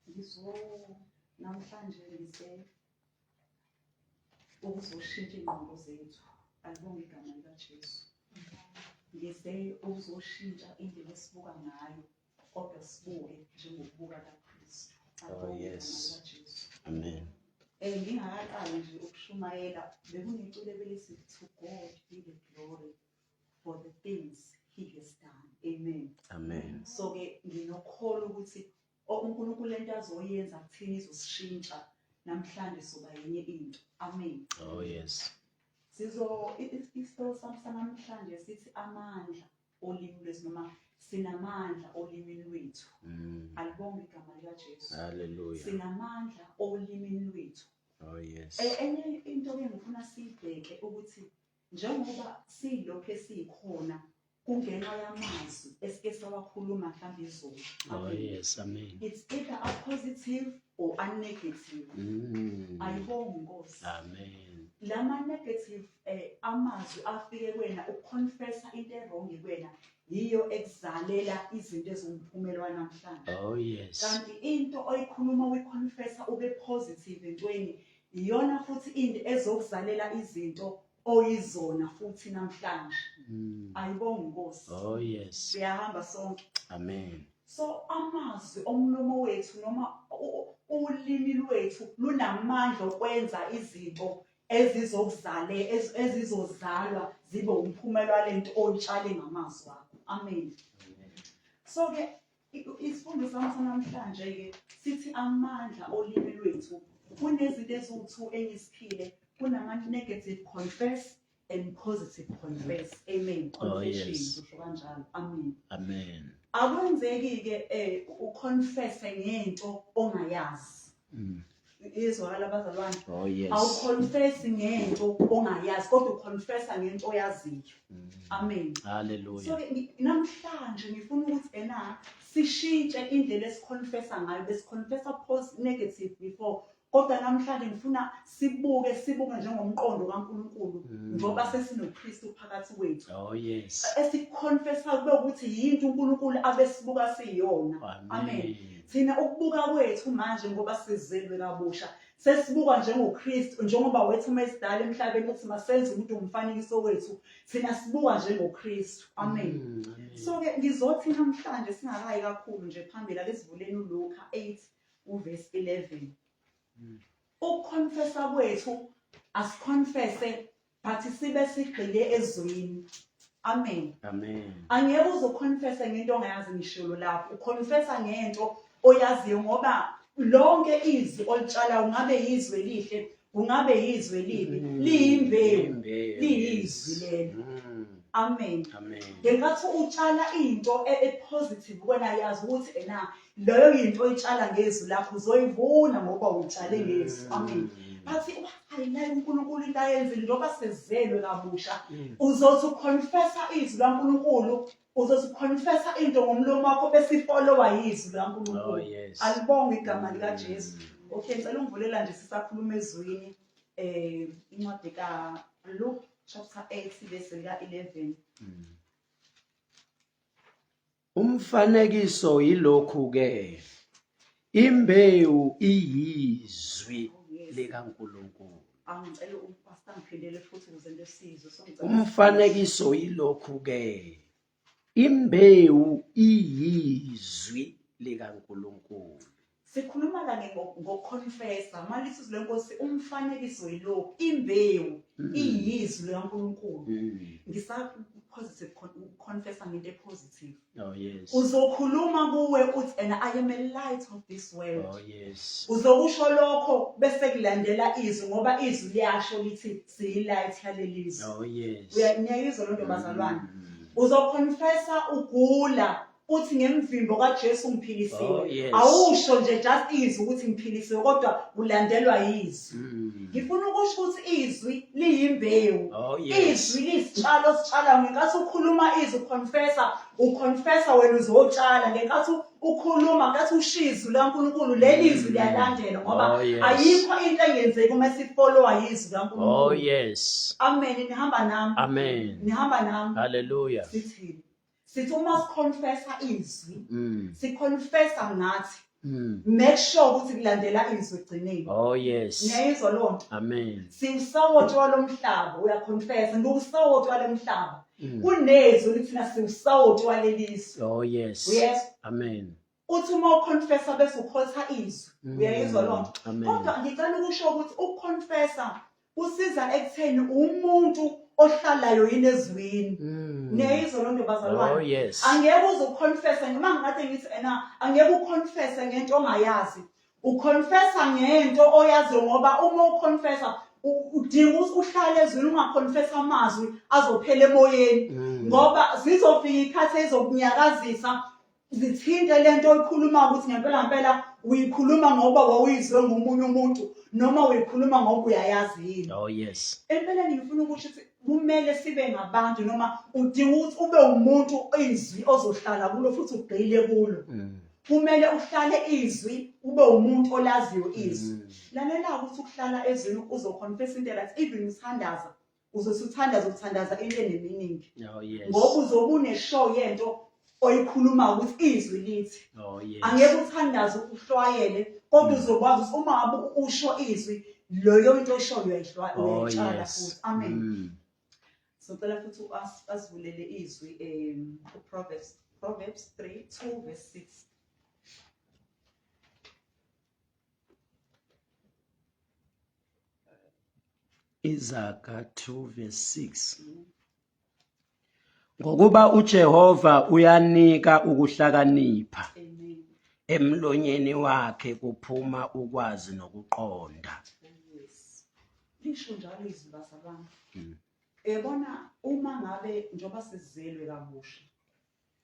Ngizwo namhlanje ngise ukuzoshintsha ingqondo zethu alibonge igama likaJesu ngise ukuzoshintsha indlela esibuka ngayo kodwa sibuke njengokubuka kaKristu oh yes amen eh ngingakaqali nje ukushumayela bekuneculo ebelisithi to God be the glory for the things he has done amen amen so ke nginokholo ukuthi uNkulunkulu lento azoyenza kuthina izosishintsha namhlanje soba yenye into amen oh yes sizo isihloko sami sanamhlanje sithi amandla olimi lwethu noma sinamandla olimini lwethu mm. alibonge igama likaJesu haleluya sinamandla olimini lwethu oh yes e, enye into ke ngifuna siyibheke ukuthi Njengoba siyilokhu esiyikhona kungenxa yamazwi esike sawakhuluma mhlawumbe izolo. Oh yes, amen. It's either a positive or a negative. Mm. Ayibonge Nkosi. Amen. Lama negative eh amazwi afike kwena ukuconfessa into ewrong kwena yiyo ekuzalela izinto ezingumphumela namhlanje. Oh yes. Kanti into oyikhuluma uyiconfessa ube positive entweni Iyona futhi into ezokuzalela izinto oyizona futhi namhlanje. Mm. Ayibonga inkosi. Oh yes. Siyahamba sonke. Amen. So amazwi omlomo wethu noma ulimi lwethu lunamandla okwenza izinto ezizokuzale ezizozalwa zibe umphumela lento oyitshale ngamazwi akho amen so ke Isifundo sami sanamhlanje-ke sithi amandla olimi lwethu kunezinto eziwu-two engisiphile kunama-negative confess and positive confess amen oh, confession usho kanjalo amen amen akwenzeki-ke um uconfesse ngento ongayazi Mm. iyezwakala abazalwane oh, awuconfesi ngento ongayazi kodwa uconfesa ngento oyaziyo mm. amen haleluya so namhlanje ngifuna ukuthi ena sishintshe indlela esiconfesa ngayo besiconfesa pos negative before kodwa namhlanje ngifuna sibuke sibuke njengomqondo kaNkulunkulu mm. njengoba sesinoKristu phakathi kwethu oh yes esiconfessa kube ukuthi yinto uNkulunkulu abesibuka siyona amen thina ukubuka kwethu manje ngoba sizelwe kabusha sesibuka njengoKristu njengoba wethu uma esidala emhlabeni uthi masenze umuntu umfanekiso wethu thina sibuka njengoKristu amen mm, so ke ngizothi namhlanje singakayi kakhulu nje phambili ake sivuleni uLuka 8 uverse 11 ukuconfessa kwethu asiconfesse but sibe sigxile ezwini amen amen angeke uzoconfessa ngento ongayazi ngishilo lapho uconfessa ngento oyaziyo ngoba lonke izwi olitshala ungabe yizwe lihle kungabe yizwe libi mm. liyimbewu liyizwi lelo mm. amen ngenkathi utshala into e-, e-positive wena yazi ukuthi ena leyo yinto oyitshala ngezwi lakho uzoyivuna ngoba uyitshale ngezwi mm. amen bathi ayinayo uNkulunkulu into ayenzile njengoba sezelwe kabusha mm. uzothi uconfessa izwi laNkulunkulu uzothi uconfessa into ngomlomo wakho bese ifollowa yizwi laNkulunkulu oh, alibonge igama likaJesu mm. okay ngicela ungivulela nje sisakhuluma ezwini eh incwadi ka Luke chapter 8 verse lika 11 Umfanekiso yilokhu-ke, imbewu iyizwi likaNkulunkulu. Umfanekiso yilokhu-ke, imbewu iyizwi likaNkulunkulu. Sikhuluma kanye ngokukhonfesa manje isizwe lenkosi umfanekiso yilokhu imbewu mm. iyizwi likaNkulunkulu mm. ngisa positive confess ngento epositive oh yes uzokhuluma kuwe uthi and i am a light of this world oh yes uzokusho lokho bese kulandela izwi ngoba izwi liyasho lithi siyi light yalelizwe oh yes uyayizwa lonto bazalwane mm. uzoconfessa ugula uthi ngemvimbo kaJesu ngiphilisiwe oh, yes. awusho nje just izwi ukuthi ngiphilisiwe kodwa ulandelwa izwi mm. ngifuna ukusho ukuthi izwi liyimbewu oh, yes. izwi lisitshalo sitshala ngenkathi ukhuluma izwi confessa uconfessa wena uzotshala ngenkathi ukhuluma ngathi ushizu laNkulunkulu leli izwi liyalandela ngoba oh, yes. ayikho into engenzeki uma sifollowa izwi laNkulunkulu oh yes amen nihamba nami amen nihamba nami haleluya sithini sithi uma siconfessa izwi Mm. siconfessa ngathi Mm. make sure ukuthi kulandela izwi egcineni Oh yes. niyayizwa leyo nto Amen. siwusawoti walo mhlaba uyaconfessa ngiwusawoti walo mhlaba Mm. kunezwi lithina siwusawoti waleli zwe Oh yes. uyezwa Amen. uthi uma uconfessa bese ukhotha izwi mm, uyayizwa loo nto kodwa ngicela ukusho ukuthi ukuconfessa kusiza ekutheni umuntu ohlalayo yini ezwini mm. niyayizwa loo nto bazalwane oh, angeke uze uconfesse noma ngikade ngithi ena angeke uconfesse ngento ongayazi uconfessa ngento oyaziyo ngoba uma uconfessa udinga ukuthi uhlale ezwini ungaconfessa amazwi azophela emoyeni mm. ngoba zizofika ikhathi ezokunyakazisa zithinte le nto oyikhulumayo ukuthi ngempela ngempela uyikhuluma ngoba wawuyizwe ngomunye umuntu noma uyikhuluma ngoba uyayazi yini oh yes empeleni ngifuna ukusho ukuthi kumele sibe ngabantu noma udinga ukuthi ube umuntu izwi ozohlala kulo futhi ugxile kulo mm. kumele uhlale izwi ube umuntu olaziyo izwi mm. lalela ukuthi ukuhlala ezwini uzoconfess into right even uthandaza uzosuthandaza ukuthandaza into eneminingi oh, ngoba uzobe uneshow yento oyikhuluma ukuthi izwi lithi oh, angeke uthandaze ukuhlwayele kodwa mm. uzokwazi ukuthi uma ngabe usho izwi loyo into oyishoyo uyayihlwayela oh, uyayitshala futhi amen mm. socela futhi asivulele izwi um uproverbs proverbs 3 2 verse 6 Izaga 2 verse 6 Ngokuba uJehova uyanika ukuhlakanipha emlonyeni wakhe kuphuma ukwazi nokuqonda lisho njalo izwi bazalwane hmm. yabona uma ngabe njengoba sizelwe kabusha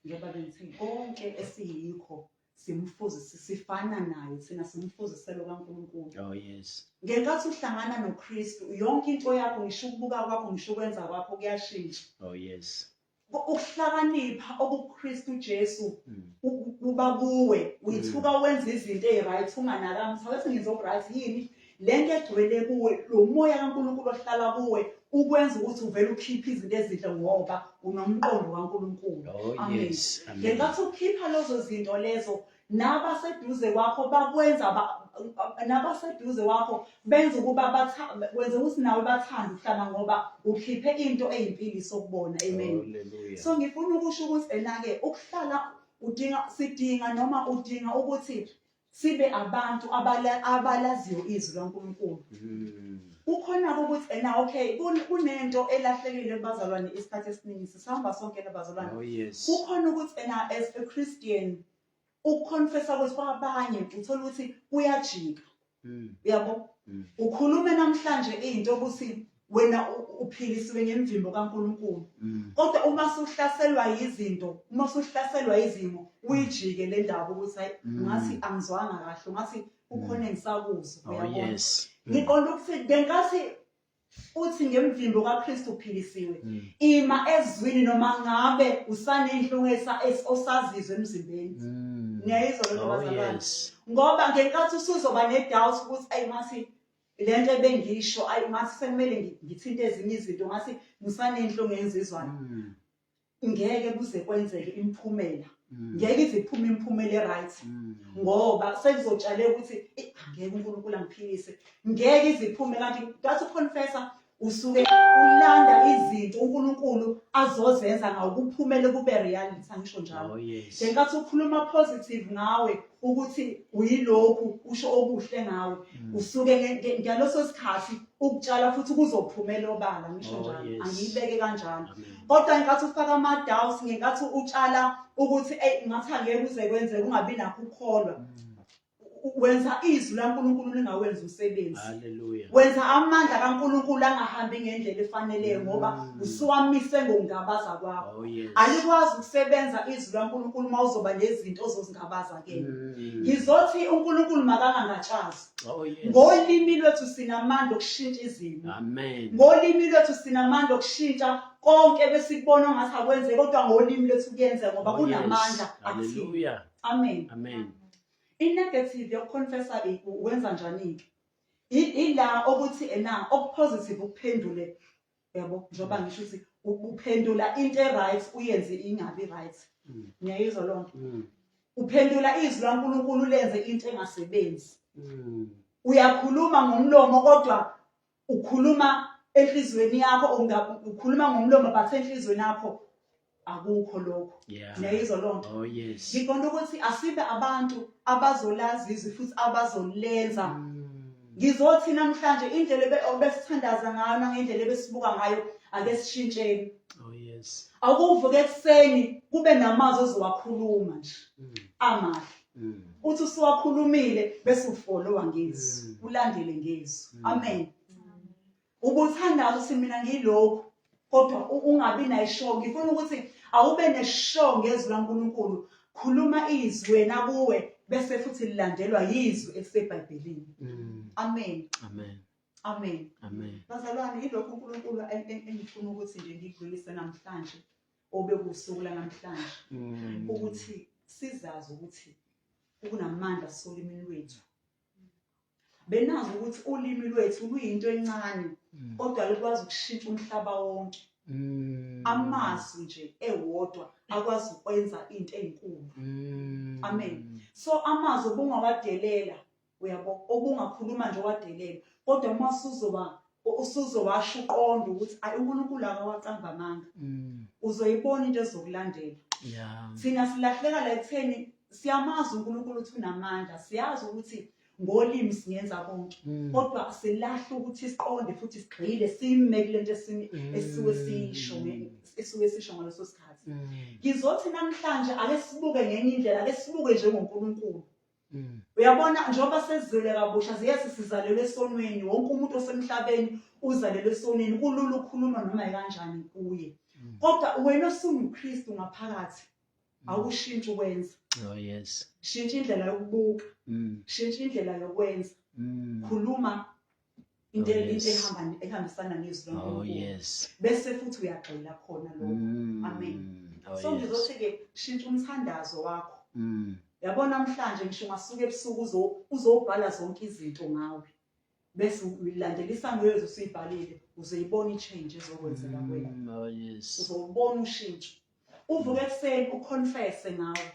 njengoba bengithi konke esiyikho simfuzise sifana naye thina simfuziselo kaNkulunkulu oh yes ngenkathi uhlangana noKristu yonke into yakho ngisho ukubuka kwakho ngisho ukwenza kwakho kuyashintsha oh yes ukuhlakanipha okuKristu Jesu hmm. kuba kuwe uyithuka hmm. wenza izinto eziright unganaka mthatha ngizo right yini Le nto egcwele kuwe, lo moya kaNkulunkulu ohlala kuwe, ukwenza ukuthi uvele ukhiphe izinto ezinhle ngoba unomqondo kaNkulunkulu. Oh, Amen. yes. Amen. Ngenkathi ukhipha lezo zinto lezo, nabaseduze kwakho bakwenza ba- nabaseduze kwakho benza ukuba batha- kwenza ukuthi nawe bathande ukuhlala ngoba ukhiphe into eyimpili sokubona. Amen. Hallelujah. So ngifuna ukusho ukuthi ena-ke ukuhlala udinga sidinga noma udinga ukuthi sibe abantu abalaziyo izwi laNkulunkulu mm. kukhona ukuthi ena okay kunento elahlekile kubazalwane isikhathi esiningi sisihamba sonke nabazalwane oh, kukhona ukuthi ena as a Christian ukuconfessa ukuthi kwabanye uthola ukuthi kuyajika mm. uyabo mm. ukhulume namhlanje into ukuthi wena uphilisiwe ngemvimbo kaNkulunkulu mm. kodwa uma suhlaselwa yizinto uma suhlaselwa izimo uyijike le ndaba ukuthi hayi mm. ngathi angizwanga kahle ngathi ukhona engisakuzwa oh, uyabona ngiqonda ukuthi bengathi uthi ngemvimbo kaKristu uphilisiwe mm. ima ezwini noma ngabe usanenhlungesa osazizwe emzimbeni ngiyayizwa lento oh, bazalwane ngoba ngenkathi usuzoba nedoubt ukuthi ayi ngathi le nto ebengiyisho ayi ngathi sekumele ngithinte ezinye izinto ngathi ngisanenhlo ngenzizwana mm. ngeke kuze kwenzeke imiphumela mm. ngeke ize iphume imiphumela e-right mm. ngoba sekuzotshale ukuthi angeke unkulunkulu angiphilise ngeke ize iphume kanti ngathi uconfessa usuke ulanda izinto uNkulunkulu azozenza ngawo kuphumele kube reality angisho njalo oh, ngenkathi ukhuluma positive ngawe ukuthi uyilokhu usho okuhle ngawe mm. usuke ngaloso sikhathi ukutshala futhi kuzophumela obala ngisho oh, njalo angiyibeke kanjalo kodwa ngenkathi ufaka ama-doubts ngenkathi utshala ukuthi eyi ngathi angeke kuze kwenzeke ungabi nakho ukukholwa mm. wenza izwi laNkulunkulu lingawenza umsebenzi haleluya wenza amandla kaNkulunkulu angahambi ngendlela efanele mm. ngoba usuwamise ngokungabaza kwakho oh, alikwazi ukusebenza izwi laNkulunkulu uma uzoba nezinto ozozingabaza ke mm. ngizothi uNkulunkulu makangangatshazi oh, ngolimi lwethu sinamandla okushintsha izimo amen ngolimi lwethu sinamandla okushintsha konke besikubona ngathi akwenze kodwa ngolimi lwethu kuyenza ngoba oh, kunamandla akuthini amen amen I-negative yokuconfessa-ke wenza njani-ke? Ila okuthi ena okupositive ukuphendule yabo njengoba mm. ngisho ukuthi uphendula into e-right uyenze ingabi right mm. ngiyayizwa loo nto mm. uphendula izwi lankulunkulu lenze into engasebenzi uyakhuluma ngomlomo kodwa ukhuluma enhliziyweni yakho ukhuluma ngomlomo but enhliziyweni yakho akukho lokho niyayizwa loo nto oh, ngiqonda ukuthi asibe abantu abazolazi izwi futhi abazolenza hmm. ngizothi namhlanje indlela obesithandaza ngayo nangendlela ebesibuka ngayo ake sishintsheni oh, awukuvuka ekuseni kube namazwi ozowakhuluma nje hmm. amahle Mm. uthi usuwakhulumile bese ufolowa ngezwi mm. ulandele ngezwi mm. amen ubuthandaza ukuthi mina ngilokhu kodwa ungabi nayishow ngifuna ukuthi awube neshow ngezwi laNkulunkulu khuluma izwi wena kuwe bese futhi lilandelwa yizwi elisebhayibhelini amen amen amen amen bazalwane ilokhu uNkulunkulu engifuna ukuthi nje ngikudlulise namhlanje obekusuku lanamhlanje mm. ukuthi sizazi ukuthi kunamandla solimini lwethu benazi ukuthi ulimi lwethu luyinto encane mm. kodwa lukwazi ukushintsha umhlaba wonke mm. amazwi nje ewodwa akwazi ukwenza into ezinkulu amen so amazwi obungawadelela uyabo obungakhuluma nje wadelela kodwa uma usuzoba usuzowasho uqonda ukuthi ayi uNkulunkulu akawacamba amanga mm. uzoyibona into ezokulandela thina silahleka la ekutheni siyamazi uNkulunkulu ukuthi unamandla siyazi ukuthi ngolimi singenza konke mm. kodwa silahle ukuthi siqonde futhi sigxile sime kule nto mm. esuke sisho esuke sisho ngaleso sikhathi ngizothi namhlanje ake sibuke ngenye indlela ake sibuke njengoNkulunkulu Mm. Uyabona njengoba sezizwele kabusha ziyase sizalelwe esonweni wonke umuntu osemhlabeni uzalelwe esonweni kulula ukukhuluma noma kanjani kuye. Mm. Kodwa wena osunguKristu ngaphakathi mm. awushintshi ukwenza. Oh yes. Shintsha indlela yokubuka. Shintsha indlela yokwenza. Khuluma into Oh, yes. into ehamba ehambisana nezwi Oh loNkulunkulu yes. bese futhi uyagxila khona lokho Mm. Amen. Oh, so yes. ngizothi ke shintsha umthandazo wakho Mm. yabo namhlanje ngisho ungasuka ebusuku uzo- uzobhala zonke izinto ngawe bese uyilandela isangezo usuyibhalile uzoyibona i-change ezokwenzeka kwena Mm. Oh yes. uzobona ushintsho uvuke ekuseni uconfese ngawe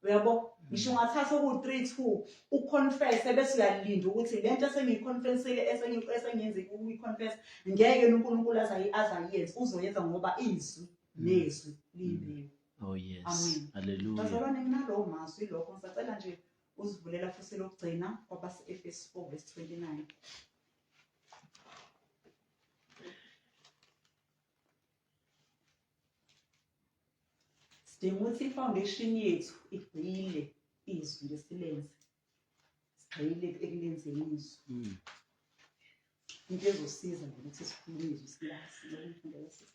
uyabo ngisho ungathatha oku-three two uconfese bese uyalinda ukuthi le nto esengiyiconfesile esengiyenze ukuyiconfesa ngeke yena unkulunkulu azayenze uzoyenza ngoba izwi nezwi liyibiwe oh yes amen haleluya bazalwane nginalowo mazwi lokho ngisacela nje uzivulela futhi lokugcina kwabase-efesu four verse twenty nine sidinga ukuthi i-foundation yethu igxile izwi ngesilenze sigxile ekulenzeni izwi hmm. into ezosiza ngokuthi sikhulume izwi silazi lokumfundela sisi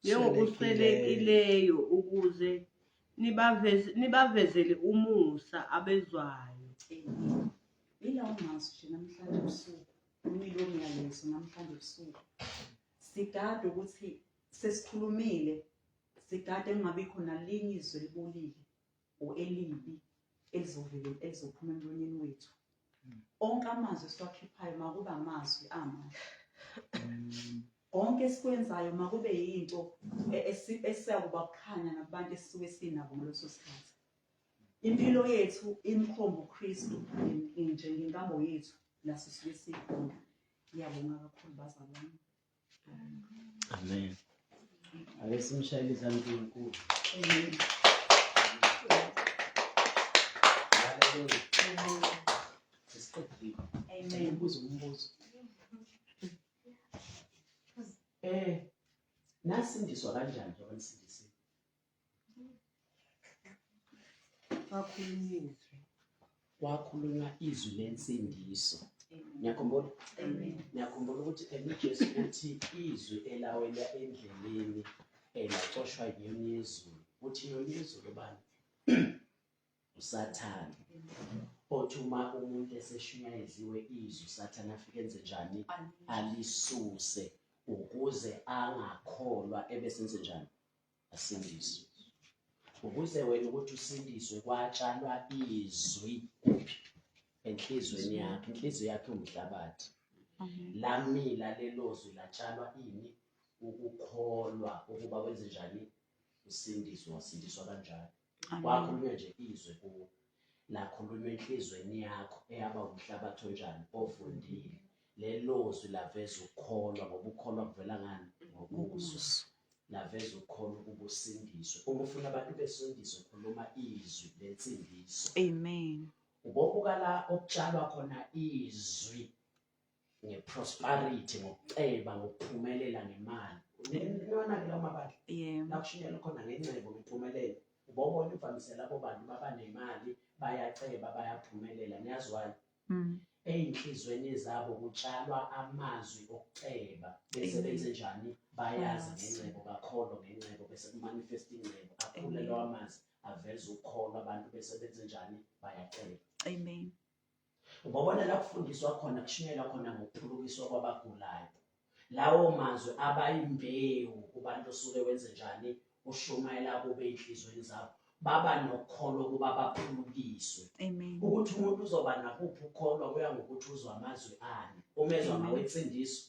njengokuswelekileyo ukuze nibaveze- nibavezele umusa abezwayo Amen. Yilawo mazwi nje namhlanje ebusuku, umile womyalezo namhlanje ebusuku. Sigade ukuthi sesikhulumile, sigade kungabikho nalinye izwi elibolile. or elibi elizovele elizophuma emlonyeni wethu mm. onke amazwi esiwakhiphayo makuba amazwi amahle mm. konke esikwenzayo makube yinto e-, esiyakuba kukhanya nakubantu esisuke sinabo ngaleso sikhathi impilo yethu imkhombo uKristu nje ngenkambo yethu la sisuke sikhona ngiyabonga kakhulu bazalwane Amen. Ake simshayele izandla uNkulunkulu. Haleluya. Sesiqedile. Amen. Ubuza umbuzo. Eh, nasindiswa kanjani njengoba nisindisiwe? Wakhulunyiswe. Wakhulunywa izwi lensindiso. Ngiyakhumbula. Ngiyakhumbula ukuthi uJesu uthi izwi elawela endleleni elacoshwa yiyona yezulu. Uthi yona yezulu bani? uSathane. Othi uma umuntu eseshunyayeliwe izwi uSathane afike enze njani? Alisuse ukuze angakholwa ebesenze njani? asindiswe ukuze wena ukuthi usindiswe kwatshalwa izwi kuphi enhlizweni yakhe inhliziyo yakhe umhlabathi lamila lelo zwi latshalwa ini ukukholwa ukuba wenze njani usindiswe wasindiswa kanjani kwakhulunywa nje izwe kuwo lakhulunywa enhlizweni yakho eyaba umhlabathi onjani ovundile lelozwi laveza ukukholwa ngoba ukukholwa kuvela ngani ngokuzwa naveza ukhona ukuba usindiswe uma ufuna abantu besindiswe khuluma izwi lensindiso amen ubobuka la okutshalwa khona izwi ngeprosperity ngokuceba ngokuphumelela ngemali nilona ke lama bantu yebo lakushinyela khona ngencebo ngiphumelele ubobona imvamisela labo bantu baba nemali bayaceba bayaphumelela niyazwana mm. eyinhlizweni zabo kutshalwa amazwi okuceba bese benze njani bayazi ngencebo bakholwa ngencebo bese kumanifest ingcebo akhule lawa mazwi aveza ukukholwa abantu bese benze njani bayaceba amen Ngobona la kufundiswa khona kushunyelwa khona ngokuphulukiswa kwabagulayo. Lawo mazwi abayimbewu kubantu osuke wenze njani ushumayela kube enhlizweni zabo baba nokholo ukuba baphulukiswe ukuthi umuntu uzoba nakuphi ukholo kuya ngokuthi uzwa amazwi ani umezwa mawensindiso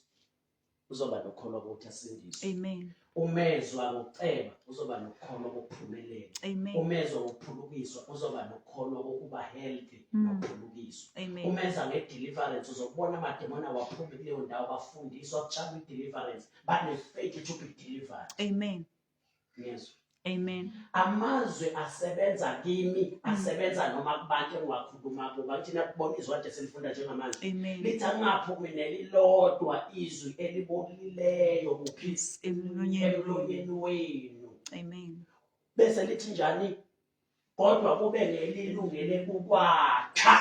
uzoba nokukholwa ukuthi asindiswe amen umezwa ngokuceba uzoba nokukholwa kokuphumelela umezwa ngokuphulukiswa uzoba nokukholwa kokuba healthy mm. nokuphulukiswa umeza ngedeliverance uzokubona amademona waphuma kuleyo ndawo bafundiswa kujaba ideliverance banefaith ukuthi ube delivered amen ngizwa Amen. Amazwi asebenza kimi, mm. asebenza noma kubantu engiwakhuluma kubo. Bathina kubona izwi kade silifunda njengamanje. Lithi angaphumi nelilodwa izwi elibolileyo kuphisi emlonyeni wenu. Amen. Bese lithi njani? kodwa kube lelilungele ukwakha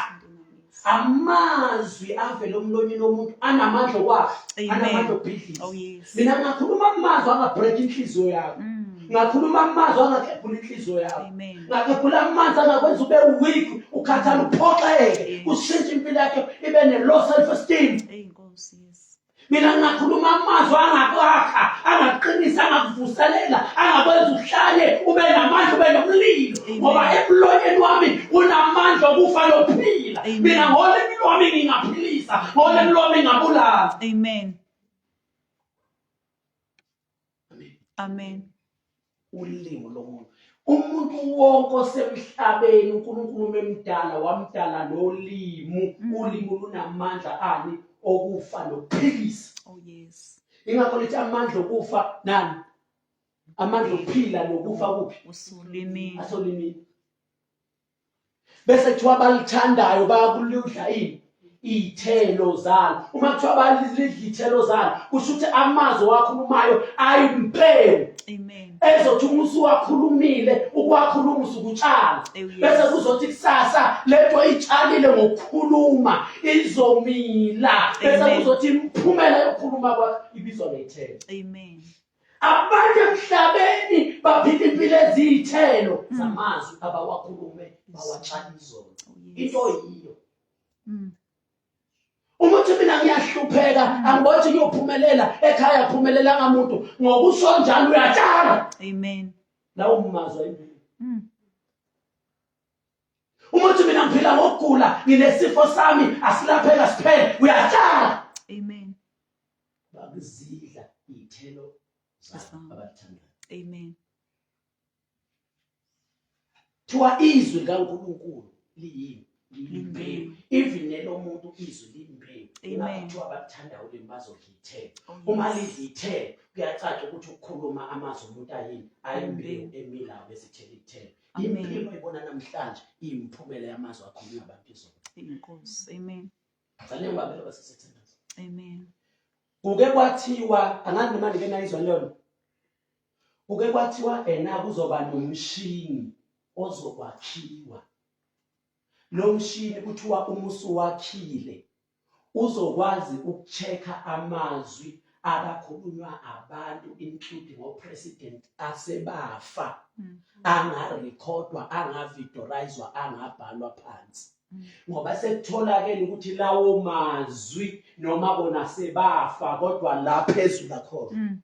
amazwi avela omlonyeni womuntu anamandla okwakha anamandla okubhidlisa oh, mina ngakhuluma amazwi angabhreka inhliziyo yakho mm. ngakhuluma amazwi angakhephula inhliziyo yakho ngakhephula amanzi angakwenza ube weak ukhathala uphoxeke kushintshe impilo yakhe ibe ne-low self esteem mina ngingakhuluma amazwi angakwakha angaqinisa angakuvuselela angakwenza uhlale ube namandla ube nomlilo ngoba emlonyeni wami unamandla okufa nokuphila mina ngolimi lwami ngingaphilisa ngolimi lwami ngingabulala amen amen amen ulingo lomuntu umuntu wonke osemhlabeni uNkulunkulu memdala wamdala nolimu mm. ulimu lunamandla ani okufa nokuphilisa oh yes ingakho lithi amandla okufa nani amandla okuphila nokufa kuphi usulimini asolimini bese kuthiwa abalithandayo bayakuludla ini iy'thelo zalo uma kuthiwa balidla iy'thelo zalo kusho ukuthi amazwi owakhulumayo ayimpelo ezothi uma usuwakhulumile ukuwakhuluma usukutshala bese kuzothi kusasa lento itshalile ngokukhuluma izomila bese kuzothi imiphumela yokukhuluma kwakho ibizwa ngey'thelo abantu emhlabeni baphila impilo eziyithelo mm. zamazwi abawakhulume bawatshana izolo oh, into yiyo mm. uma uthi mina ngiyahlupheka mm. angiboni ukuthi kuyophumelela ekhaya aphumelelanga muntu ngokusho njalo uyatshala amen lawo mazwi impilo uma uthi mina ngiphila ngokugula nginesifo sami asilapheka siphele uyatshala bakuzidla iy'thelo zabo abalithandayo amen kuthiwa izwi likankulunkulu liyini limbewu even nelomuntu izwi limbewu kuthiwa abakuthandayo ulimi bazolithela oh, uma lizithela kuyacaca ukuthi ukukhuluma amazwi omuntu ayini ayimbewu emilayo bezithela ithela impilo ibona namhlanje iyimphumela yamazwi akhulunywa abantu izolo inkosi amen Ngicela ngibambe lokho sesithandaza. Amen. Kuke kwathiwa angazi noma ndike nayizwa lona. Kuke kwathiwa ena kuzoba nomshini ozokwakhiwa. Lo mshini kuthiwa uma usuwakhile uzokwazi ukuchecka amazwi akakhulunywa abantu including opresident asebafa mm-hmm. angarekhodwa angavidorizwa angabhalwa phansi ngoba sekutholakele ukuthi lawo mazwi noma bona sebafa kodwa la phezulu akhona mm.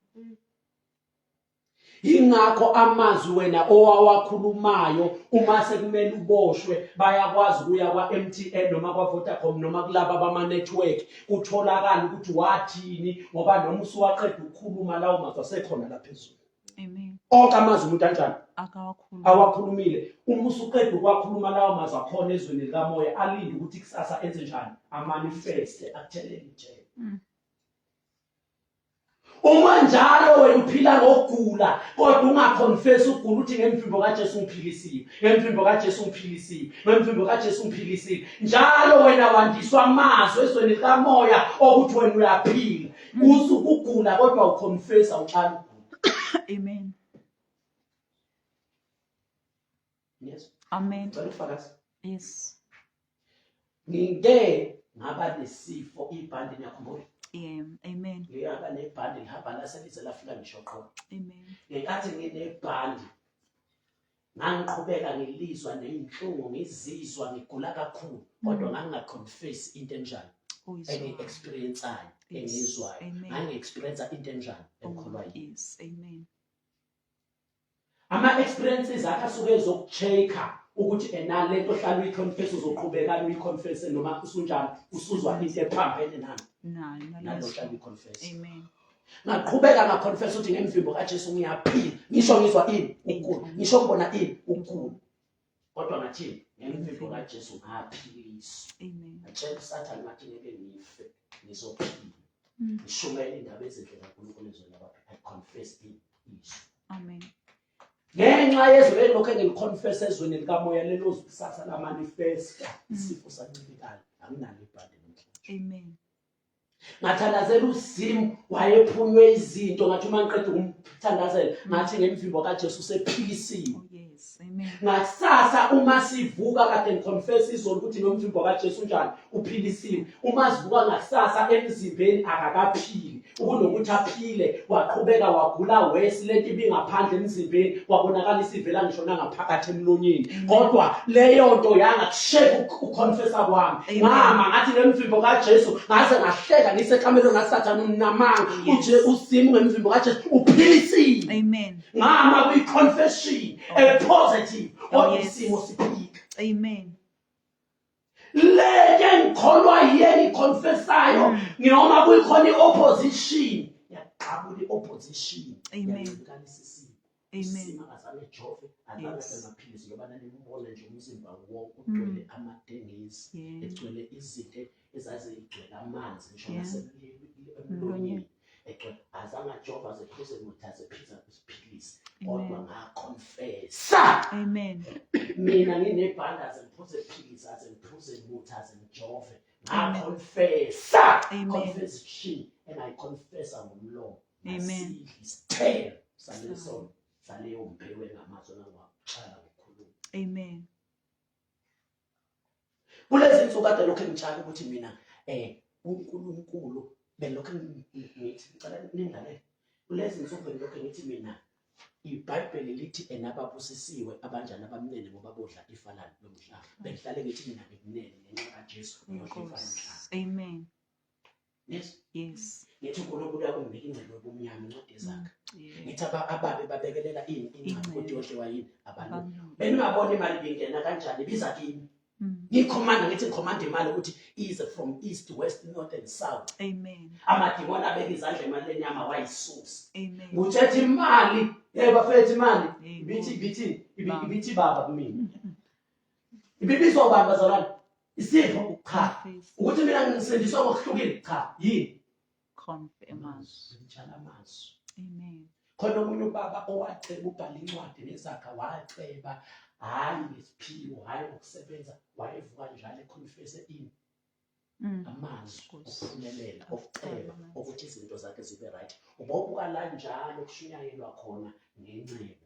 ingakho amazwi wena owawakhulumayo uma sekumele uboshwe bayakwazi ukuya kwa-MTN noma kwa-Vodacom noma kulaba bama-network kutholakala ukuthi wathini ngoba noma usuwaqeda ukukhuluma lawo mazwi asekhona laphezulu Amen. onke amazwi umuntu anjani Akawakhuluma. awakhulumile uma usuqeda ukwakhuluma lawo mazwi akhona ezweni likamoya alinde ukuthi kusasa enze njani amanifeste akuthelele ijele Mm. uma njalo wena uphila ngokugula kodwa ungaconfesi ukugula uthi ngemvimbo kajesu ngiphilisiwe ngemvimbo kajesu ngiphilisiwe ngemvimbo kajesu ngiphilisiwe njalo wena wandiswa amazwi ezweni likamoya okuthi wena uyaphila uzu ukugula kodwa uconfess awuxhala ukugula amen yes amen cela ufakazi yes ngike ngaba nesifo ibhandi ngiyakhumbula Yeah, amen. Ngiyaba nebhandi ngihamba la selize lafika ngisho qho. Amen. Ngenkathi nginebhandi Ngangiqhubeka ngilizwa nenhlungu ngizizwa ngigula kakhulu kodwa mm. ngangingaconfess into enjani engi-experiensayo engiyizwayo ngangi-experiensa into enjani oh, engikholwa yini ama-experiences akhe asuke ezoku-check-a ukuthi ena le nto hlala uyi-confess uzoqhubeka uyi-confesse noma usunjani usuzwa into ephambene nani nalo hlala uyi-confess ngaqhubeka ngaconfess ukuthi ngemvimbo kaJesu ngiyaphila ngisho ngizwa ini ukugula ngisho ngibona ini ukugula kodwa ngathini ngemvimbo kaJesu ngaphiliswa amen atshela usathane ngathi ngeke ngife ngizophila mm. ngishumayela indaba ezinhle kaNkulunkulu ezweni labantu i confess it is amen ngenxa yezwi elilokhu engiliconfess ezweni likamoya lelozi kusasa lamanifesta mm. isifo sancibilikayo anginalo ibhande namhlanje amen ngathandazela uzimu wayephunywe izinto ngathi uma ngiqeda ukumthandazela ngathi ngemvimbo kajesu usephilisiwe oh, ngakusasa uma sivuka kade ngiconfesa izolo ukuthi nomvimbo kajesu unjani uphilisiwe uma sivuka ngakusasa emzimbeni akakaphili ukunokuthi aphile waqhubeka wagula wesi lento ibingaphandle emzimbeni kwabonakala isivela ngisho nangaphakathi emlonyeni kodwa leyo nto yanga kusheka ukhonfesa kwami ngama ngathi ngemvimbo kaJesu ngaze ngahleka ngisekhamelo ngasathana unamanga uje usimu ngemvimbo kaJesu uphilisile amen ngama kwi confession a positive kodwa isimo siphika amen lento engikholwa yiye ngiconfessayo mm. noma kuyikhona i-opposition yaqabula i-opposition yancikanisa isimo isimo akazange ejove angabe amaphilisi ngoba nanimubona nje umzimba wonke mm. ugcwele amadengezi egcwele izinto ezazigcwele amanzi ngisho nasemlonyeni Ekhe azama Jehova zephise muthathe phisa kusiphilise. Kodwa nga confess. Amen. Mina nginebhanda zemphuze philisa zemphuze muthathe ngijove. Nga confess. Amen. Confession and I confess ngomlomo. Amen. Sithelo saleso saleyo mphewe ngamazwi angwakuchala ngokukhuluma. Amen. kulezi nsuku kade lokhu engitshaka ukuthi mina um unkulunkulu belokhu ngithi ngicela ningale kulezi nsuku bengilokhu ngithi mina ibhayibheli lithi enababusisiwe abanjani abamnene ngoba bodla ifa lalo lomhlaba bengihlale ngithi mina ngikunene ngenxa kajesu ngiyohlifana mhlaba amen yes yes ngithi uNkulunkulu yakumbika ingcebo yobumnyama incwadi ezakhe mm, ngithi ababe babekelela ini ingcebo kodwa yodliwa yini abantu beningabona imali bingena kanjani biza kimi mm. ngikhomanda ngithi ngikhomanda imali ukuthi ize from east west north and south amen amadimoni abeka izandla emalini yami awayisusi amen ngitshethe imali hey bafethu imali ibithi ibithi ibithi baba kumina ibibizwa ubani bazalwane Isifo cha. Ukuthi mina ngisindiswa ngokuhlukile cha. Yini? Confirm amazwi. Ngitshela amazwi. Amen. Khona omunye ubaba owaceba ubhala incwadi nezakha waceba hayi ngesiphiwo hayi ngokusebenza wayevuka njalo econfesse ini mm. amazwi okuphumelela okuceba ukuthi izinto zakhe zibe right ubobuka la njalo kushunyayelwa khona ngenxebo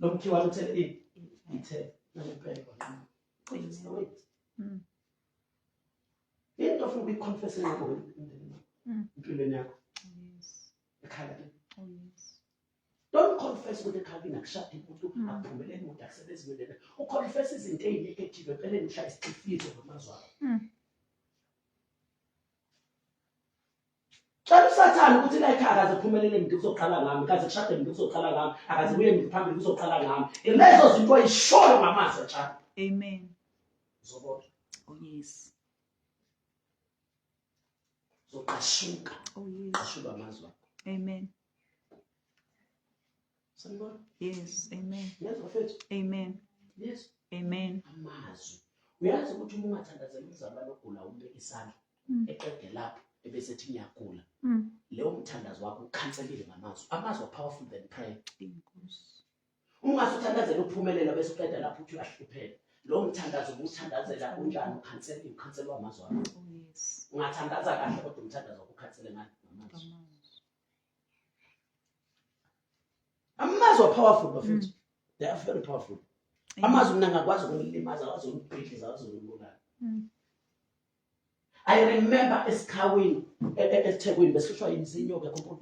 Nomkhiwa uthe ithe nalibhekwa qha. Cishe wait. Mm. Into ofuna ukuyiconfess ngakho emndenini. Mm. Impilweni yakho. Yes. Ekhala ke. Oh yes. Don't confess ukuthi ekhala inakushada umuntu mm. akuphumelele umuntu akusebenzi ngene. Uconfess izinto ezinegative empeleni ngihlaya isifiso ngamazwi akho. Cela usathane ukuthi la ekhaya akaze kuphumelele ngithi kuzoqala ngami, kaze kushade ngithi kuzoqala ngami, akaze kuye ngithi phambili kuzoqala ngami. Ilezo zinto ayishoyo ngamazwi atshani. Amen. Zobona. Oh yes. Zoqashuka. Oh yes. Qashuka amazwi akho. Amen. sanibona yes amen yes bafethu amen yes amen amazwi uyazi ukuthi uma ungathandazela umzalwane ogula umbeka isandla mm. eqede lapho ebese ethi ngiyagula mm. leyo mthandazo wakho ukhanselile ngamazwi amazwi are powerful than prayer ungase uthandazela uphumelela bese uqeda lapho uthi uyahlupheka lowo mthandazo ubuthandazela unjani ukhansela ukhansela wamazwi akho oh, ungathandaza kahle kodwa umthandazo wakho ukhansele ngani ngamazwi amazwi apowerful bafethu mm. they are very powerful amazwi mina ngakwazi ukunilimaza akwazi ukunibhidliza akwazi ukunibulala mm. i remember esikhawini e, e, esithekwini besihlushwa yinzinyoka kunkulu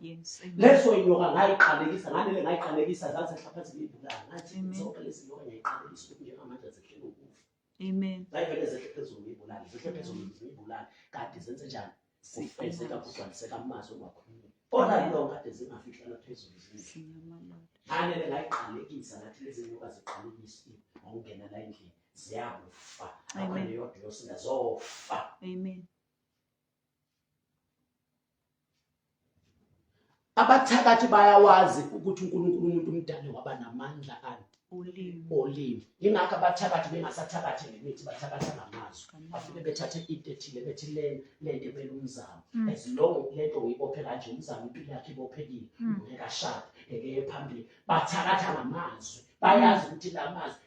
leso inyoka ngayiqalekisa nganele ngayiqalekisa zaze hlaphathi ngiyibulala ngathi zonke lezi nyoka ngiyayiqalekisa ukuthi njengamanje azihlele ukufa Amen. Zayivele zehle phezulu ngiyibulali, zehle phezulu ngiyibulali. Kanti zenze njani? Sifezeka kugcwaliseka amazi ongakhulumi. Kona yilo kade zingafihlana phezulu zindlu. Nganele ngayiqalekisa ngathi lezi nyoka ziqalekisiwe ngokungena la endlini ziyakufa. Amen. Yodwa yosinda zofa. Amen. abathakathi bayawazi ukuthi uNkulunkulu umuntu umdale waba namandla ani olimi olimi ingakho abathakathi bengasathakathi ngemithi bathakatha ngamazwi bafike bethathe into ethile bethi le lento emele umzamo mm. as long lento uyibophe kanje umzamo impilo yakhe ibophekile mm. ngeke ashade ngeke ye phambili bathakatha ngamazwi bayazi ukuthi la mazwi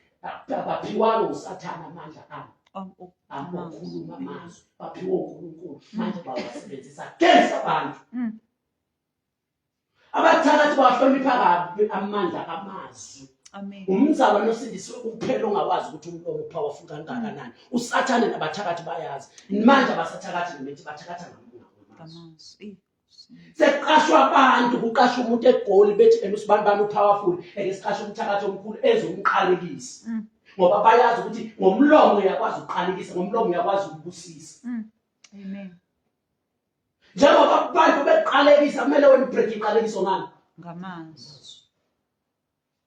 baphiwalo usathana amandla abo abakhuluma amazwi baphiwe uNkulunkulu mm. manje bawasebenzisa against abantu mm. abathakathi bawahlonipha kabi amandla amazwi umzalwa nosindisiwe kuphela ongawazi ukuthi umlomo powerful kangakanani mm. usathane nabathakathi bayazi manje abasathakathi nemithi bathakatha ngamazwi sekuqashwa abantu kuqashwa umuntu egoli bethi ena usibani bami upowerful eke siqashe umthakathi omkhulu ezomqalekisa mm. ngoba bayazi ukuthi ngomlomo uyakwazi ukuqalekisa ngomlomo uyakwazi ukubusisa mm. amen njengoba abantu beqalekisa kumele wena ubreak iqalekiso ngani ngamazwi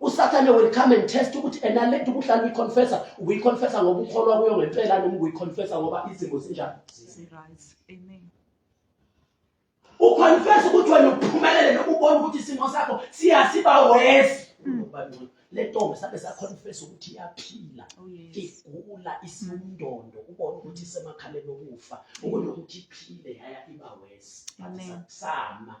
usathane will come and test ukuthi ena le nto ubuhlala uyiconfessa ubuyiconfessa ngoba ukholwa kuyo ngempela noma ubuyiconfessa ngoba izimo zinjani uconfessa ukuthi wena uphumelele noma ubona ukuthi isimo sakho siyasiba wesi mm. le ntombi sabe saconfessa ukuthi iyaphila oh, igula isiwundondo ubona ukuthi isemakhaleni okufa ubona ukuthi iphile yaya iba wesi sama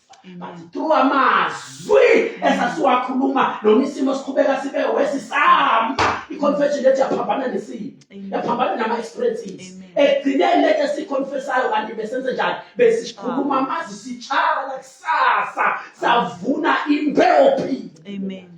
but through amazwi esasiwakhuluma noma isimo siqhubeka sibe wesisama i-confession lethu yaphambana nesimo yaphambana nama-experiences ekugcineni lethu esiyiconfesayo kanti besenze njani besikhuluma amazi sitshala kusasa savuna imbewu phila Amen.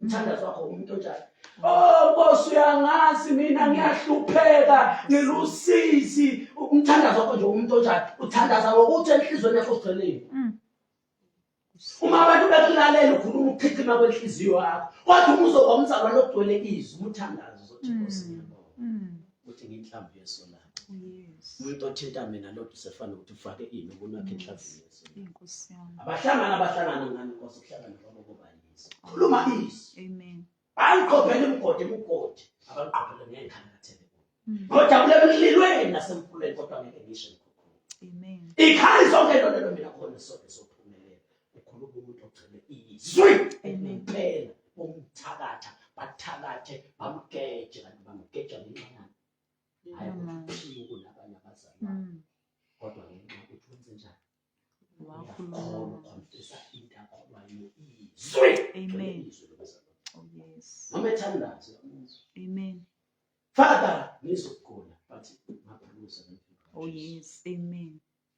umthandazo wakho umuntu onjani oh nkosi uyangazi mina ngiyahlupheka ngilusizi umthandazo wakho nje umuntu onjani uthandaza ngokuthi enhlizweni yakho sigcinile mm. uma abantu bekulalela ukhuluma ukukhithima kwenhliziyo yakho kodwa uma uzoba umzalwane ogcwele izwi umthandazo uzothi nkosi mm. ngiyabonga mm. uthi nginhlamvu yeso lakhe umuntu othinta mina lodwa usefana ukuthi ufake ini ukunakhe enhlavini yeso abahlangana abahlangana ngani nkosi kuhlangana kwabo kobayizwa khuluma izwi amen bayiqophele umgodi umgodi abaqophele ngeenkhangathele hmm. ngojabule emlilweni nasemfuleni kodwa ngeke ngisho ikhali zonke lolelo mina khona sonke sophumelela Ukhona umuntu ogcine izwi elingempela umthakatha bathakathe bamgeje kanti bamgeja ngenxa yami hayi kuphiwe kunabanye abazali mm. kodwa ngenxa ukuthi wenze njani uyakhona ukhonfisa into akholwayo izwi amen izwi lobazali oh yes noma ethandazo amen father ngizokugula but ngaphulusa oh yes amen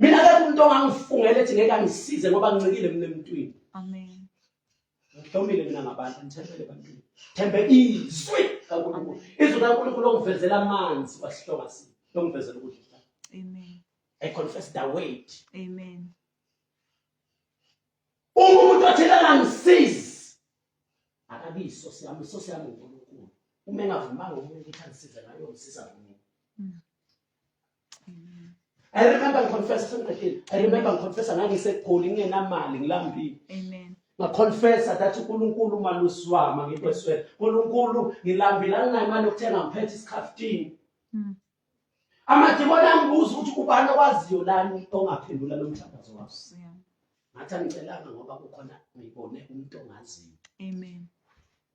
mina akekho umuntu ongangifungela ethi ngeke angisize ngoba ngincikile mina emntwini amen ngihlomile mina ngabantu ngithembele ebantwini thembe izwi kaNkulunkulu izwi kaNkulunkulu ongivezela amanzi wasihloma si longivezela ukudla amen i confess the weight amen uma umuntu athela angisizi akabiso siyami so siyami uNkulunkulu uma engavumanga umuntu ukuthi angisize ngayo ngisiza mina mm. I remember ngiconfessa sengiqedile. I remember ngiconfessa ngangiseGoli ngingenamali ngilambile. Amen. Ngaconfessa that uNkulunkulu umalusi wami ngikweswele. uNkulunkulu ngilambile anginayo imali yokuthenga ngiphethe isikhaftini. Mm. Amadimoni angibuza ukuthi ubani owaziyo lani ongaphendula lo mthandazo wakho. Ngathi angicelanga ngoba kukhona ngibone umuntu ongaziyo. Amen.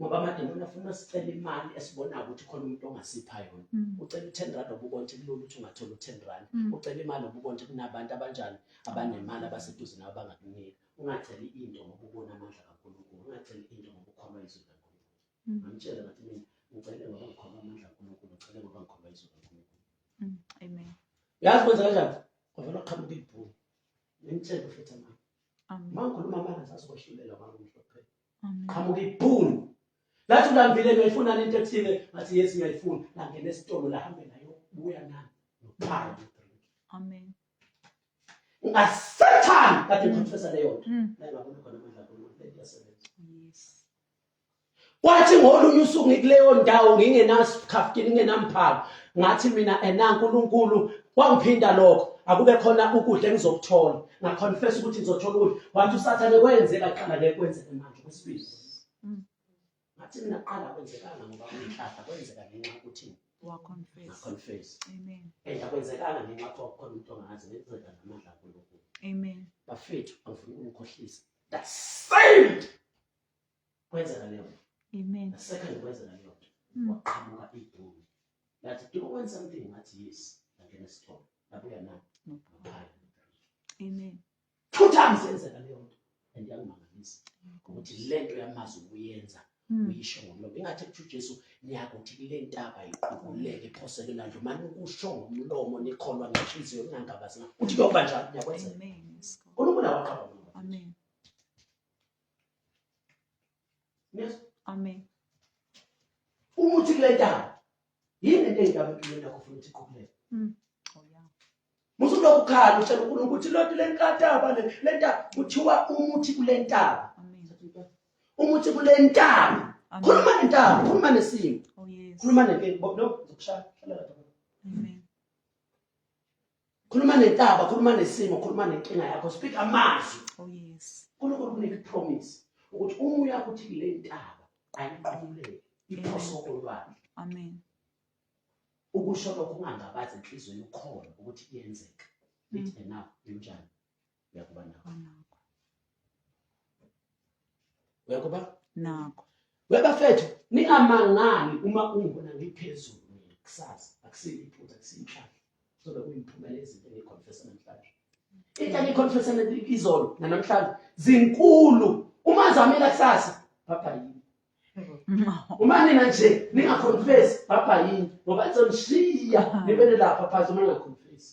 ngoba amademoni afuna sicela imali esibonayo ukuthi khona umuntu ongasipha yona mm. ucela u-ten rand obubona ukuthi kulula ukuthi ungathola u-ten rand mm. ucela imali obubona ukuthi kunabantu abanjani abanemali abaseduze nabo bangakunika ungaceli into ngoba ubona amandla kankulunkulu ungaceli into ngoba ukholwa izwi likankulunkulu mm. ngangitshela ngathi mina ngicele ngoba ngikholwa amandla kankulunkulu ngicele ngoba ngikholwa izwi likankulunkulu amen yazi kwenza kanjani kwavela qhamuka ibhulu ngimtshele futhi amanga uma ngikhuluma amanga sasikoshulelwa mangumhlophe qhamuka ibhunu lathi ulambile ngiyayifuna lento ethile ngathi yes ngiyayifuna langena esitolo lahambe nayo buya nami nophara amen ungasathani kade ngiprofesa mm. leyo nto mm. naye babona khona amandla kaNkulunkulu lento yasebenza yes kwathi ngolunye usuku ngikuleyo ndawo ngingenasikhafu ngingenamphako ngathi mina ena uNkulunkulu Kwangiphinda lokho akube khona ukudla engizokuthola ngaconfess ukuthi ngizothola ukudla wathi usathane kwenzeka qala le kwenzeke manje kwesibili mm. ngathi mina qala kwenzekanga ngoba ngihlahla kwenzeka ngenxa ukuthi waconfess amen and akwenzekanga ngenxa yokuthi wakukhona umuntu ongazi ngenzeka namandla kulo amen bafethu angifuni ukukhohlisa that same kwenzeka leyo nto amen second kwenzeka leyo nto mm. waqhamuka iduni lathi do you want something ngathi yes ngangena esitolo labuya na ngaphaya amen two times yenzeka leyo nto and yangimangalisa ukuthi le nto yamazi ukuyenza Hmm. uyisho ngomlomo ingathi kusho uJesu niyakuthi kule ntaba iqubuleke iphoseke landle uma nikusho ngomlomo nikholwa ngenhliziyo ningangabazi uthi kuyoba njalo niyakwenza uNkulunkulu awaqaba amen Yes. Amen. Uma uthi kule ntaba yini lento eyindaba empilweni yakho ufuna ukuthi iqhubuleke? Mm. Oh yeah. Musu lokhu khala utshela uNkulunkulu ukuthi loti le nkataba le le ntaba kuthiwa umuthi kule ntaba. Amen. Umuthi kule ntaba. Amen. Khuluma nentaba, khuluma nesimo. Oh yes. Khuluma nento no zokushaya. Hlala lapha. Amen. khuluma nentaba khuluma nesimo khuluma nenkinga yakho speak amazwi oh yes uNkulunkulu kunika ipromise ukuthi uma uya kuthi le ntaba ayiqhuleke iphose olwandle amen ukusho lokho ungangabazi enhlizweni ukhona ukuthi kuyenzeka lithi enough linjani uyakuba nakho uyakuba nakho webafethu ningamangani uma ungibona ngiphezulu mina kusasa akusiyo iphutha akusiyo inhlahla sobe kuyimphumela ezinto engiyikhonfesa namhlanje into engiyikhonfesa izolo nanamhlanje zinkulu uma zamela kusasa baba yini uma nina nje ningakhonfesi baba yini ngoba nizomshiya nibele lapha phansi uma ningakhonfesi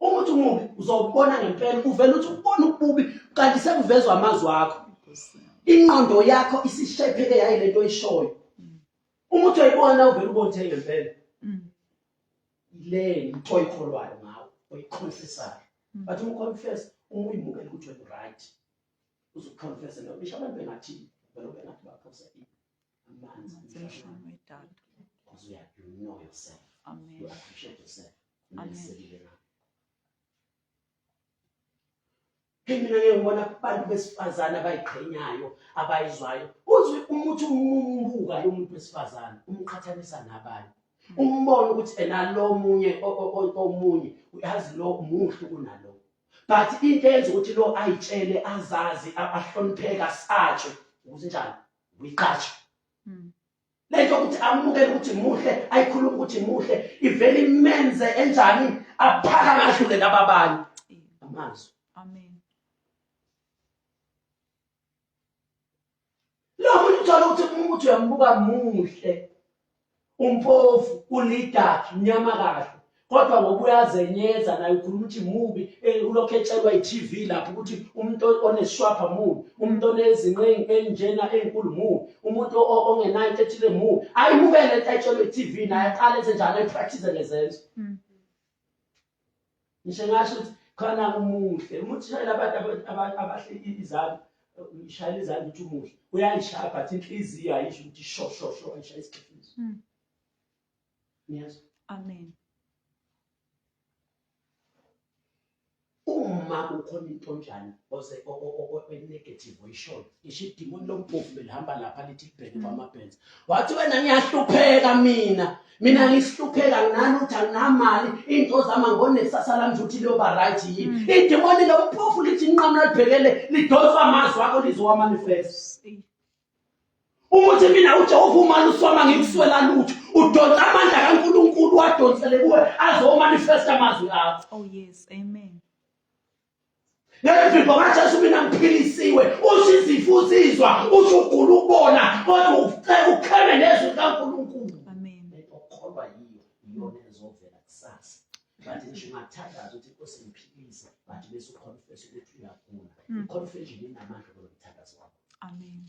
uma uthi umubi uzobona ngempela uvele uthi ubona ububi kanti sekuvezwa amazwi akho ingqondo yakho isishepheke yayi lento oyishoyo uma uthi uyibona uvele ubonithe ngempela mm. le nto oyikholwayo ngawo oyiconfessayo mm. but uma uconfess uma uyimukela ukuthi wena right uzoconfessa nobisho abantu bengathini vele ubengathi baphose zeshumi edatha because you, have, you know yourself. Amen. You appreciate yourself. Amen. mina ngeke ngibona abantu besifazane abayiqhenyayo abayizwayo uzwe umuthi umumbuka lo muntu wesifazane umqhathanisa nabanye hmm. umbona ukuthi ena lo munye omunye uyazi lo muhle kunalo but into eyenza ukuthi lo ayitshele azazi ahlonipheke asatshwe ukuthi njani uyiqasha hmm. lento ukuthi amukele ukuthi muhle ayikhuluma ukuthi muhle ivele imenze enjani aphaka kahlule laba abanye amazwi amen lokho uthola ukuthi umuntu uyamubuka muhle Umpofu ulidark mnyama kahle kodwa ngoba uyazenyeza naye ukhuluma ukuthi mubi eh, ulokhu etshelwa i-TV lapho ukuthi umuntu oneshwapha mubi umuntu onezinqingi enjena enkulu mubi umuntu ongenayo into ethile mubi ayimukele into ayitshelwa i-TV naye aqale enze njalo ayipractice ngezenzo mm. ngisho ngasho ukuthi khona umuhle umuntu shayela abantu abahleki izandla ngishayela izandla ukuthi umuhle uyayishaya but inhliziyo ayisho ukuthi sho sho sho ayishaya isikhifizo hmm. niyazwa amen uma kukhona into njani oze enegative oyishoyo ngisho idimoni lomphofu belihamba lapha lithi libheke kwamabhenza wathi wena ngiyahlupheka mina mina ngihlupheka nginalutho anginamali iy'nto zama ngonesasa lami nje ukuthi liyoba right yini mm. idimoni lomphofu lithi inqamu lalibhekele lidonsa amazwi akho lizowamanifest ukuthi mina ujehova umane usoma ngikuswela lutho udonsa amandla kankulunkulu wadonsele kuwe azomanifesta amazwi akho oh yes amen ngemvimbo kaJesu mina ngiphilisiwe usho izifo uzizwa usho ugula ukubona kodwa ucela ukheme nezwi likaNkulunkulu amen okholwa yiyo iyona ezovela kusasa bathi ngisho ungathandaza ukuthi inkosi ngiphilise bathi bese uconfess ukuthi uyagula hmm. confession inamandla kulomthandazo wakho amen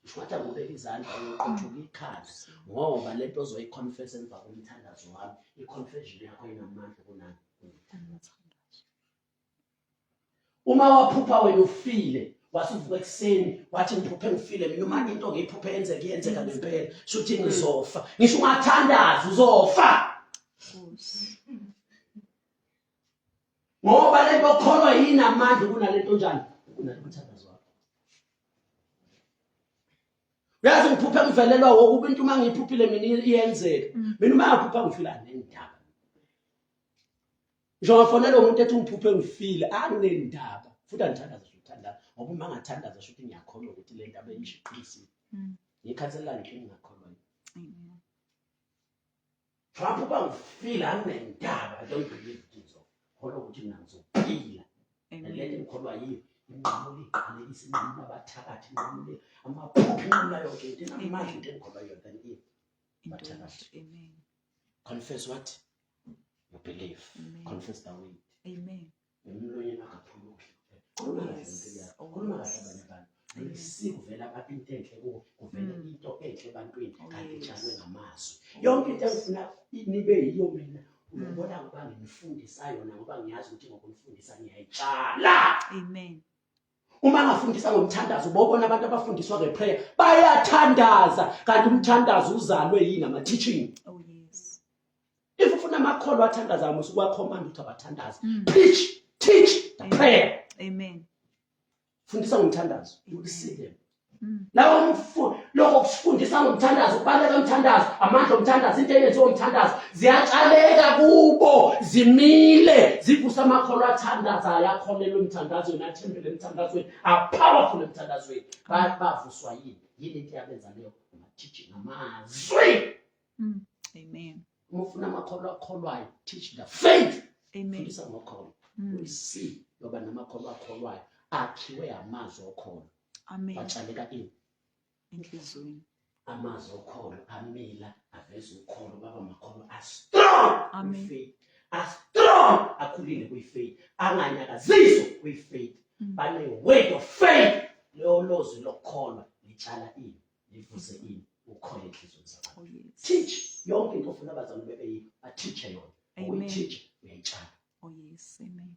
Ushuthi akubeka izandla uyoqothuka ikhanda ngoba lento ozoyiconfess emva komthandazo wami iconfession yakho inamandla kunami uma waphupha wena ufile wasuvuka ekuseni wathi ngiphuphe ngifile mina uma into ngiyiphuphe yenzeka iyenzeka ngempela shuthi ngizofa ngisho ungathandazi uzofa ngoba lento okholwa yini amandla kunalento njani kunalento mthandazo wakho uyazi ngiphuphe ngivelelwa wokuba into uma ngiyiphuphile mina iyenzeka mina uma yaphupha ngifila nendaba ngisho ngafonela umuntu ethi ungiphuphe ngifile anginendaba futhi angithandaza ukuthandaza ngoba uma ngathandaza sho ukuthi ngiyakholwa ukuthi le ndaba engishiqinisile mm. ngikhathalela ngithe ngingakholwa Trump uba ngifile anginendaba i don't believe kizo kholwa ukuthi mina ngizophila le nto engikholwa yiyo inqamule iqalekise inqamule abathakathi inqamule amaphupho inqamula yonke into inamandla into engikholwa yona than if bathakathi amen confess what you believe Amen. confess the word amen emlonyeni akaphuluki khuluma kahle ngempilo yakho khuluma kahle abanye abantu lisivela abantu into enhle kuwo kuvele mm. into enhle ebantwini oh, kanti itshalwe ngamazwi oh, yonke into engifuna nibe yiyo mina mm. ubona ngoba nginifundisayo na ngoba ngiyazi ukuthi ngokumfundisa ngiyayitshala amen uma angafundisa ngomthandazo bobona abantu abafundiswa ngeprayer bayathandaza kanti umthandazo uzalwe yini ama-teaching oh, yes. if ufuna amakholwa athandazayo musa ukwakhomanda ukuthi abathandaze mm. preach teach the Amen. prayer Amen. fundisa ngomthandazo you will see them lawo mfundo lokho kusifundisa ngomthandazo ukubaleka umthandazo amandla omthandazo into eyenziwa umthandazo ziyatshaleka kubo zimile zivusa amakholwa athandazayo akholelwa emthandazweni athembele emthandazweni apowerful emthandazweni bavuswa yini yini into yabenza leyo amathiji namazwi hmm, amen uma ufuna amakholwa akholwayo teach the faith fundisa ngokholwa hmm. uyisi yoba namakholwa akholwayo akhiwe amazwi okhona Amen. Batshaleka ini? Enhlizweni. Amazwi okholo amila aveza ukholo baba makholo a strong. Amen. Faith. A strong akhulile kwi faith. Anganyakaziswa kwi faith. Mm. Bane word of faith. Leyo lozwi lokukholwa litshala ini? Livuze ini? Ukholo enhlizweni zakho. Oh, yes. Teach yonke into ofuna abazalwane bebe yini? Bateacher yona. Amen. Uyitshala. Oh yes, amen.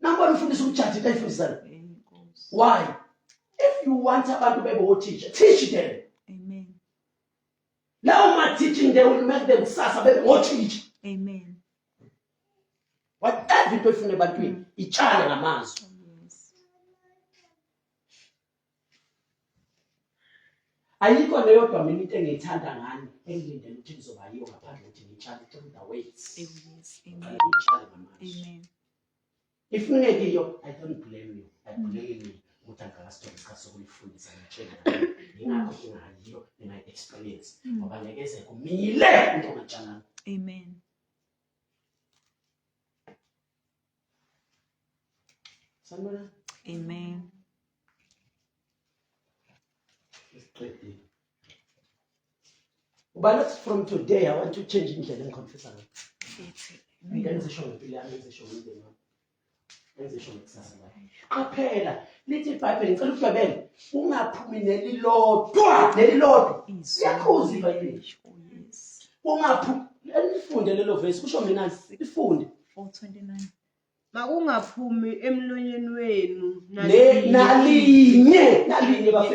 Nangona ufundisa umjadi into ayifundisayo. Why? If you want abantu bebe othisha, teach them. Amen. Now my teaching they will make them kusasa bebe ngothisha. Amen. Whatever into efuna ebantwini, itshala ngamazwi. ayikho leyodwa mina into engiyithanda ngani engilindele ukuthi ngizoba yiyo ngaphandle ukuthi ngitshale through the ways ngitshale ngamanje if ningekiyo i don't blame you i mm. blame you ukuthi angikakasitholi isikhathi sokulifundisa ngitshela yingakho ngingayiyo ngingayi-experience mm. ngoba ngeke ze kumile into ngatshalana amen Sanibona. Amen. Isiqedile. Ubana from today I want to change indlela engiconfessa ngayo. Mina ngizisho ngempilo yami, ngizisho ngomndeni wami. Ngizisho ngekusasa lami. Qaphela, lithi iBhayibheli ngicela ukudabela, ungaphumi nelilodwa, nelilodwa. Siyakhuza iBhayibheli. Ungaphumi, lifunde lelo verse, kusho mina, lifunde. 429 makungaphumi emlonyeni wenu nalinye nalinye bafethu